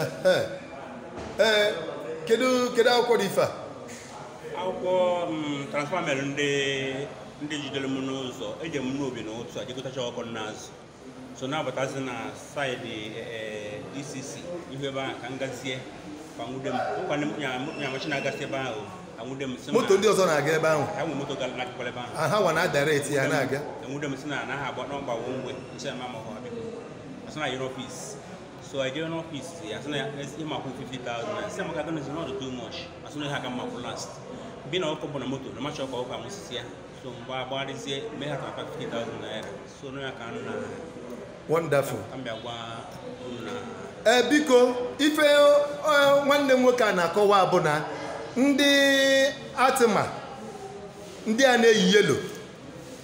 Ehe. ee kedu kedu akwụkwọ dị ife a akwụkwọ mm, transfer m mere ndị ndị jidere m n'ụzọ eje m Nnobi n'ụtụtụ a je gotacha ọkụkọ m na-azụ so na-abatazi na saịdị eh, DCC ihu ebe ahụ ka m gazie ha nwude m nkwa nya machine na-agasị ebe ahụ Enwude m sị na- moto ndị ọzọ na-aga ebe ahụ enwe moto gara n'akụkụ ebe ahụ. Ah, ha nwa na-adirect ya na-aga Enwude m sị na anaghị agba nọmba wụ mgbe nche ma ma ọ dị. Asị na yiri ọfis. So I jee n'ọfis ya asị na ya esi ma kwụ 50,000. Asị maka gịnị sị na ọ dị too much. Asị na ihe a ka m ma-akwụ last. Being na ọkụkọ bụ na moto na macha ọkụkọ anwụsisia. So m bịa agbagharịzie mee ha transfer 50,000 naira. wonderful ee eh, biko ife eh, eh, nwanne m nwoke a na-akọwa bụ na ndị ARTMA ndị a na-eyi yellow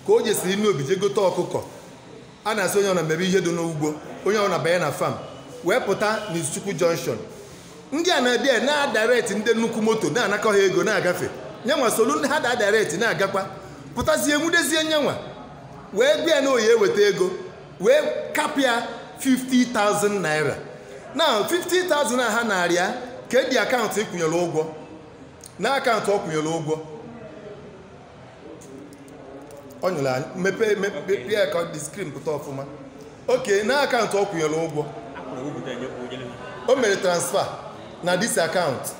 ka o jesiri Nnobi je gote ọkụkọ a na-asị onye ọbụna mebe ihe dị n'ugbo onye ọbụna banye na farm wee pụta n'izuchukwu junction ndị a na-abịa na-adirect ndị nnukwu moto na-anakọ ha ego na-agafe nyanwa solu ndị ha na-adirect na-agakwa pụtazie nwudezie nyanwa wee bịa na ọ ya-eweta ego wee kapịa 50,000 naira na 50,000 a ha nara ya kedu akaụntụ ị kwụnyere ụgwọ na akaụntụ ọ kwụnyere ụgwọ onye ọrụ anyị mepee mepee ya ka the screen pụta ọfụma okay na akaụntụ ọ kwụnyere ụgwọ o mere transfer na this akaụntụ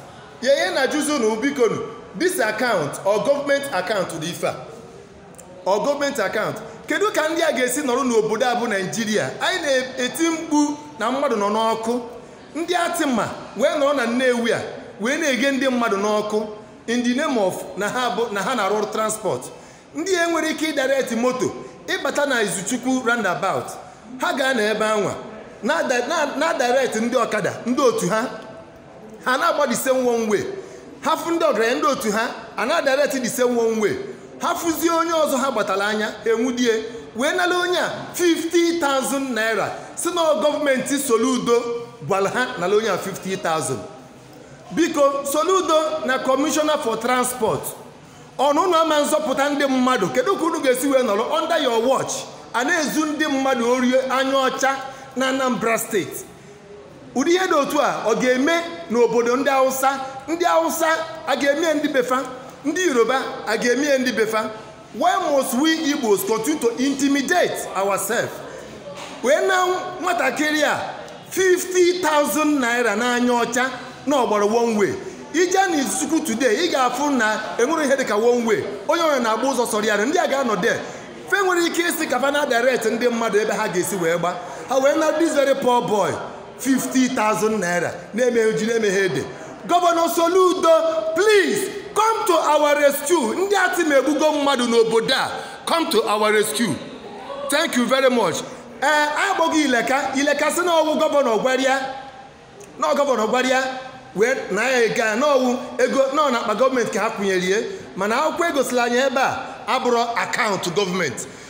ya ihe a na-ajụzi na bikonu this akaụntụ ọ gọọmenti akaụntụ dị ife a ọ gọọmenti akaụntụ kedu ka ndị a ga-esi nọrọ n'obodo a bụ naijiria anyị na-eti mkpu na mmadụ nọ n'ọkụ ndị ARTMA wee nọrọ na nnewi a wee na-eghe ndị mmadụ n'ọkụ in the name of na ha bụ na ha na-arụ ọrụ transport ndị a nwere ike ịdirect moto ịbata na izuchukwu roundabout ha gaa na ebe anwa na-ada- na- na-adirect ndị ọkada ndị otu ha ha na-agba the same one way ha fụ ndị ọgaranya ndị otu ha a na-adirect the same one way ha fụzie onye ọzọ ha gbatara anya ha enwudie wee nara onye a 50,000 naira sị na gọọmenti soludo gwara ha nara onye a 50,000 biko soludo na commissioner for transport ọ na unu ama azọpụta ndị mmadụ kedu ka unu ga-esi wee nọrọ under your watch a na-ezu ndị mmadụ ori anya ọcha na anambra steeti ụdị ihe dị otu a ọ ga-eme n'obodo ndị hausa ndị hausa a ga-eme ya ndị be fa ndị yoruba a ga-eme ya ndị be fa why must we igbos continue to intimidate ourselves wee naa nwatakịrị a 50,000 naira n'anya ọcha na ọ gbara one way ije na izuchukwu today ị ga-afụ na e nwere ihe dịka one way onye onye na-agba ụzọ sọrọ ya ndị a ga-anọ de fe nwere ike isi ka fa na-adirect ndị mmadụ ebe ha ga-esi wee gba ha wee naa this very poor boy 50,000 naira na-emeghị ji na-emeghị ede gọvanọ soludo please come to our rescue ndị atma egbugo mmadụ n'obodo a come to our rescue thank you very much ee agbọghị ileka ileka sị na ọ wụ gọvanọ gwara ya na gọvanọ gwara ya wee naa ya ego a na ọ wụ ego nọ n'akpa gọọmenti ka ha kwụnyere ya mana akwụkwọ egosila anyị ebe a abụrọ akaụntụ gọọmenti